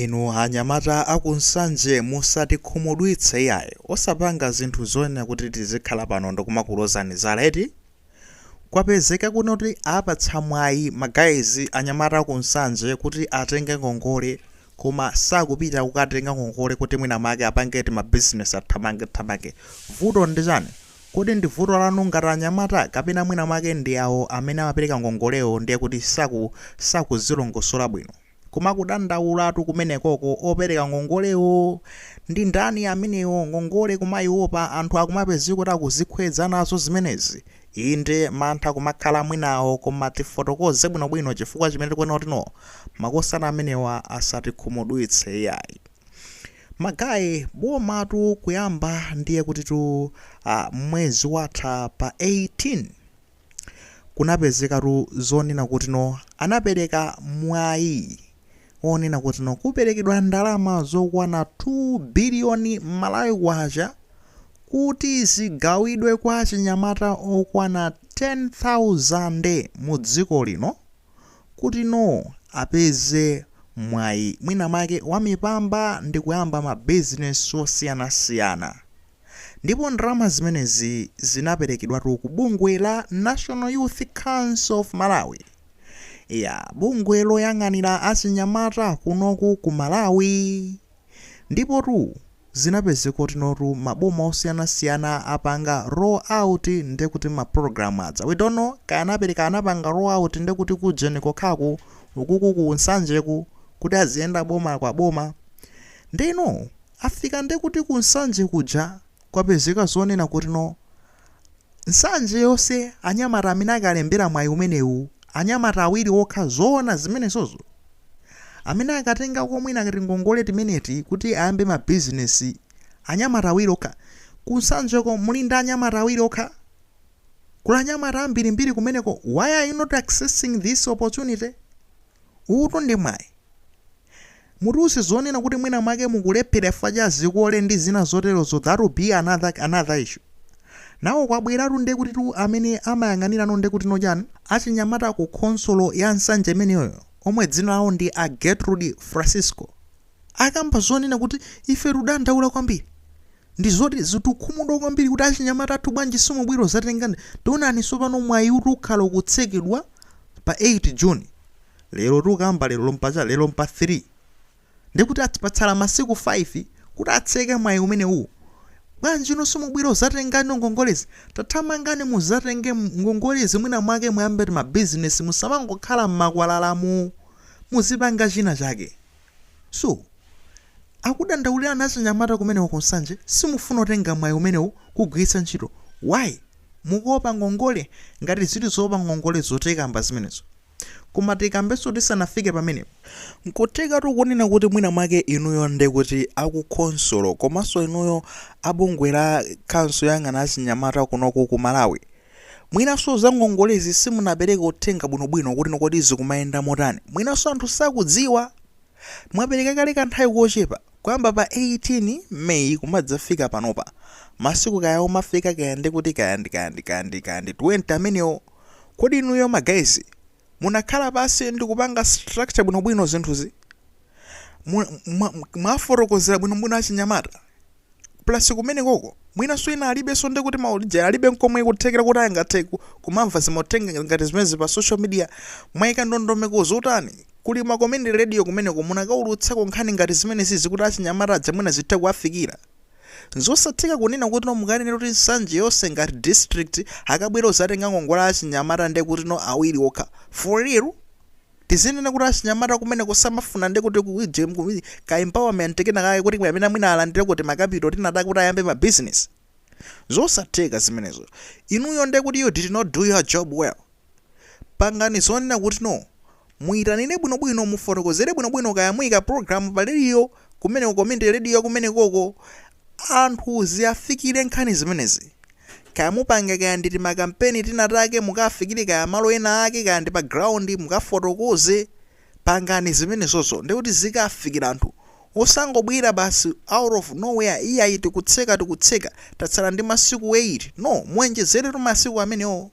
Inu anyamata aku Nsanje musatikhumudwitse iyayi, osapanga zinthu zoyenera kuti tizikhala pano ndikumakulozani zala eti? Kwapezeka kuno kuti apatsa mwayi ma guys anyamata aku Nsanje kuti atenge ngongole koma sakupita kukatenga ngongole kuti mwina mwake apange tima business athamange thamange. Vuto ndi chani? Kodi ndi vuto lanu ngati anyamata kapena mwina mwake ndi awo amene amapereka ngongolewo ndiye kuti sakuzilongosola bwino? Koma kudandaulatu kumenekoko, opereka ngongolewo ndi ndani amenewo? Ngongole kumaiopa, anthu akumapezeka kuti akuzikhwedza nazo zimenezi. Inde, mantha kumakhala mwinawo, koma tifotokoze bwinobwino chifukwa chimene tikuona kuti no, makosana amenewa asatikhumudwitse iyayi. Ma guys, bomatu kuyamba ndiye kutitu ah, mwezi watha pa 18. kunapezekatu zonena kuti no anapereka mwayi onena kuti no kuperekedwa ndalama zokwana 2 biliyoni malawi kwacha kuti zigawidwe kwa achinyamata okwana 10,000 mu dziko lino. kuti no apeze mwayi mwina mwake wa mipamba ndi kuyamba ma business osiyanasiyana ndipo ndalama zimenezi zinaperekedwatu ku bungwe la National Youth Council of Malawi, ya bungwe loyang'anira achinyamata kunoku ku Malawi. Ndipotu zinapezeka kutinotu maboma osiyana siyana apanga roll out nde kuti ma program aja we don't know kaya anapereka anapanga roll out nde kuti ku ujeni kokhaku ukuku ku nsanjeku kuti aziyenda boma kwa boma ndeno afika nde kuti ku nsanje kuja Kwapezeka zonena kuti no nsanje yonse anyamata amene akalembera mwayi umenewu anyamata awiri okha zoona zimenezozo? Amene akatengako mwina kati ngongole timeneti kuti ayambe ma business anyamata awiri okha? Ku nsanjeko muli ndi anyamata awiri okha? Kuli anyamata ambirimbiri kumeneko why are you not accessing this opportunity? Uwutu ndi mwayi. Mutiuze zonena kuti mwina mwake mukulephera chifukwa cha zikole ndi zina zoterozo that will be another another issue. Nawo kwabweratu ndiye kutitu amene amayang'anirano ndiye kutino chani? Achinyamata ku khonsolo ya Nsanje imeneyo omwe dzina lawo ndi a Gertrude Francisco. akamba zonena kuti ife tudandaula kwambiri ndizoti zitukhumudwa kwambiri kuti achinyamata athu bwanji simubwera kuzatenga ndi taonani tsopano mwayiutu ukhala ukutsekedwa pa 8 june lero tukamba lero lompa cha lero mpa 3 ndekuti ati patsala masiku 5 kuti atseke mwayi umenewuwu bwanji inu simubwera kuzatengano ngongolezi tathamangani muzatenge ngongolezi mwina mwake muyambe tima business musamangokhala mmakwalalamu muzipanga china chake. So akudandaulirani achinyamata kumeneko ku Nsanje simufuna kutenga mwayi umenewu kuugwiritsa ntchito why? Mukuopa ngongole? Ngati zili zoopa ngongolezo tikamba zimenezo. Koma tikambenso tisanafike pamenepo. Nkuthekatu kunena kuti mwina mwake inuyo nde kuti aku khonsolo komanso inuyo a bungwe la council yoyang'ana achinyamata kunoku ku Malawi, Mwinanso za ngongolezi simunapereka uthenga bwinobwino kuti kodi zikumayenda motani. Mwinanso anthu sakudziwa. Mwapereka kale kanthawi kochepa, kuyamba pa 18 May kumadzafika panopa. Masiku kaya omafika kaya ndikuti kaya ndi kaya ndi kaya ndi kaya ndi 20 amenewo. Kodi inuyo ma guys munakhala pansi ndikupanga structure bwinobwino zinthuzi? Mwafotokozera bwinobwino achinyamata? plus kumenekoko mwinanso ena alibenso ndekuti mauja alibe nkomwe kuthekera kuti angathe kumamva zimauthenga ngati zimenezi pa social media, mwaika ndondomeko zotani? Kuli ma community radio kumeneko munakaulutsako nkhani ngati zimenezizi kuti achinyamata aja mwina zithe kuwafikira? Zosatheka kunena kutino mukanena kuti Nsanje yonse ngati district akabwere odzatenga ngongole achinyamata ndekutino awiri okha, for real? Tizinena kuti achinyamata kumeneko samafuna nde kuti ka empowerment kena kake kuti kapena mwina alandire tima capital tina take kuti ayambe ma business? Zosatheka zimenezo. Inuyo nde kuti you did not do your job well. Pangani zonena kuti no, muitanire bwinobwino, mufotokozere bwinobwino kaya muika program pa radio kumeneko, community radio yakumenekoko, anthu ziafikire nkhani zimenezi. Kaya mupanga kaya ndi timakampeni tinatake mukafikire kaya malo ena ake kaya ndi pa ground mukafotokoze pangani zimenezozo ndekuti zikafikira anthu osangobwera basi out of nowhere iyayi tikutseka tikutseka tatsala ndi masiku 8 no muenjezeretu masiku amenewo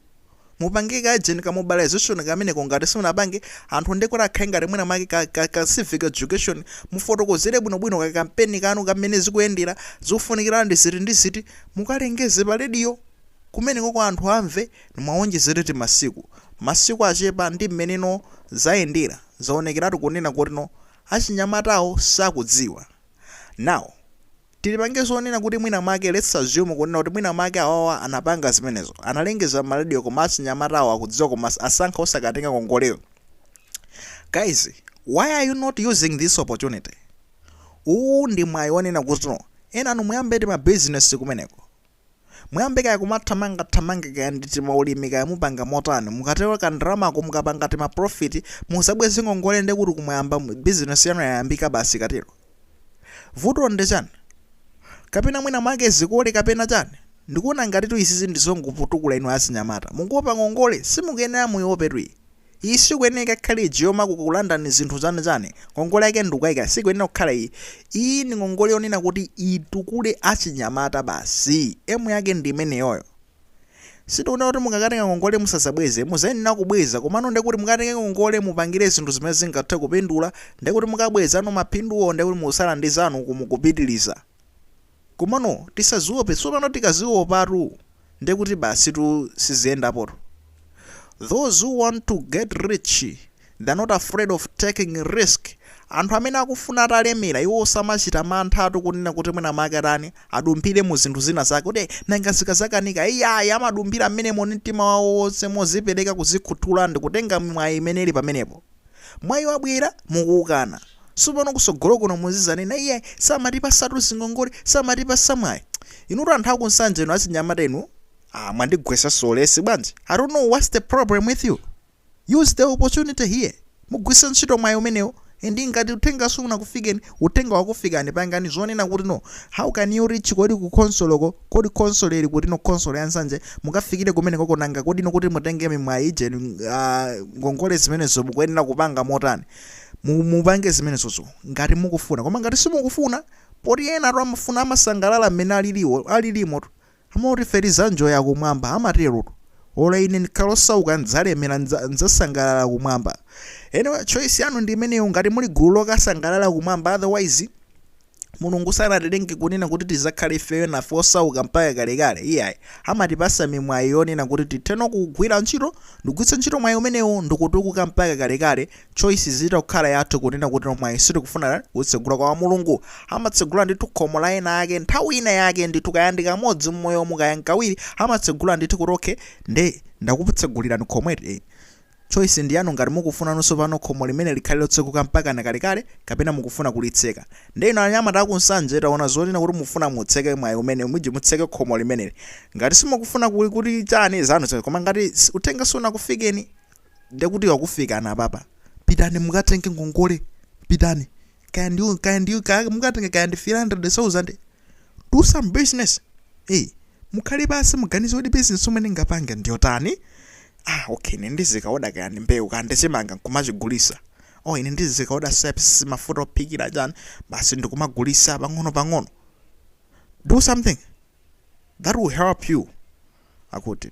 Mupange ka urgent ka mobilization kameneko ngati simunapange, anthu ndekuti akhale ngati mwina mwake ka civic education, mufotokozere bwinobwino ka kampeni kanu ka mmene zikuyendera, zofunikira ndi ziti ndi ziti, mukalengeze pa radio kumeneko kuti anthu amve, muwonjezere timasiku, masiku achepa ndi mmeneno zayendera, zaonekeratu kunena kutino achinyamatawo sakudziwa. Now. Tingopanga zonena kuti mwina mwake let's assume kunena kuti mwina mwake awawa anapanga zimenezo analengeza mma radio koma achinyamatawo akudziwa koma asankha osakatenga ngongoleyo guys why are you not using this opportunity uwu ndi mwayi wonena kutino enanu muyambe tima business kumeneko Muyambe kaya kumathamanga thamanga kaya ndi timaulimi kaya mupanga motani, mukatenga ka ndalamako mukapanga tima profit muzabweze ngongole nde kuti kumayamba business yanu yayambika basi ikatero. Vuto nde chani? Kapena mwina mwake zikole kapena chani? Ndikuona ngatitu izizi ndizongokutukulani inu achinyamata. Mukuopa ngongole? Simukuyenera muiopetu iyi. Iyi sikuyeneka ikhale ija yoma kukulandani zinthu zanu chani. Ngongole yake ndikukaika sikuyenera kukhala iyi. Iyi ndi ngongole yonena kuti itukule achinyamata basi. Emu yake ndi imeneyoyo. Sitikunena kuti mukakatenga ngongole musazabweze, muzayenera kubweza komano ndekuti mukatenge ngongole mupangire zinthu zimene zingathe kupindula ndekuti mukabwezano maphinduwo ndekuti musala ndi zanu uku mukupitiliza. Komano tisaziope sopano tikaziopatu ndekuti basitu siziyendapotu those who want to get rich they're not afraid of taking risk anthu amene akufuna atalemera iwo samachita manthatu kunena kuti mwina mwake atani adumphire mu zinthu zina zake kuti nanga zikazakanika iyayi amadumphira mmenemo ndi mtima wawo wonse mozipereka kuzikhuthula ndikutenga mwayi imene ili pamenepo Mwayi wabwera, mukuwukana. Sopano kusogolo kuno muzizanena iyayi samatipasatu zingongole, samatipasa mwayi. Inutu anthu aku Nsanje inu achinyamata inu aah mwandigwesaso ulesi bwanji? I don't know what's the problem with you? Use the opportunity here. Mugwisa ntchito mwayi umenewo and ngati uthenga sunakufikireni, uthenga wakufikani pangani zonena kuti no, how can you reach kodi ku khonsoloko? Kodi khonsolo ili kuti no khonsolo ya Nsanje mukafikile kumenekoko nanga kodi no kuti mutenge mimwayi ija inu aah ngongole zimenezo mukuyenera kupanga motani mu mupange zimenezozo ngati mukufuna koma ngati simukufuna poti enatu amafuna amasangalala mmene aliliwo alilimotu amangoti ife tizanjoya kumwamba amaterotu olo ine ndkhale osauka ndzalemera ndza ndzasangalala kumwamba anyway choice yanu ndi imeneyo ngati muli gulu lokasangalala kumwamba otherwise Mulungu sanatilenge kunena kuti tizakhale ifeyo nafe osauka mpaka kalekale iyayi. Amatipasa mimwayi yonena kuti titheno kugwila ntchito ndikugwitsa ntchito mwayi umenewo ndikutukuka mpaka kalekale choice zitha kukhala yathu kunena kuti no mwayi sitikufuna kuutsegula koma Mulungu amatsegula ndithu khomo la wina wake nthawi ina yake ndithu kaya ndikamodzi mmoyomu kaya nkawiri amatsegula ndithu kuti okay nde ndakutsegulilani khomo eti Choice ndi yanu ngati mukufuna nanunso pano khomo limene likhale lotseguka mpakana kalekale kapena mukufuna kulitseka. Nde inu anyamata aku Nsanje taona zonena kuti mufuna mutseke mwayi umenewu miji mutseke khomo limeneli. Ngati simukufuna kuyi kuti chani zanu zanu koma ngati uthenga sunakufikeni nde kuti wakufikani apapa. Pitani mukatenge ngongole pitani kaya ndi kaya ndi kaya mukatenge kaya ndi 300,000 do some business ee mukhale pansi muganize kuti business yomwe ndingapange ndiyotani Ah ok ine ndizikaoda kaya ndi mbewu kaya ndi chimanga nkumachigulisa or ine ndizikaoda seps mafuta ophikira chani basi ndikumagulisa pang'ono pang'ono do something that will help you akuti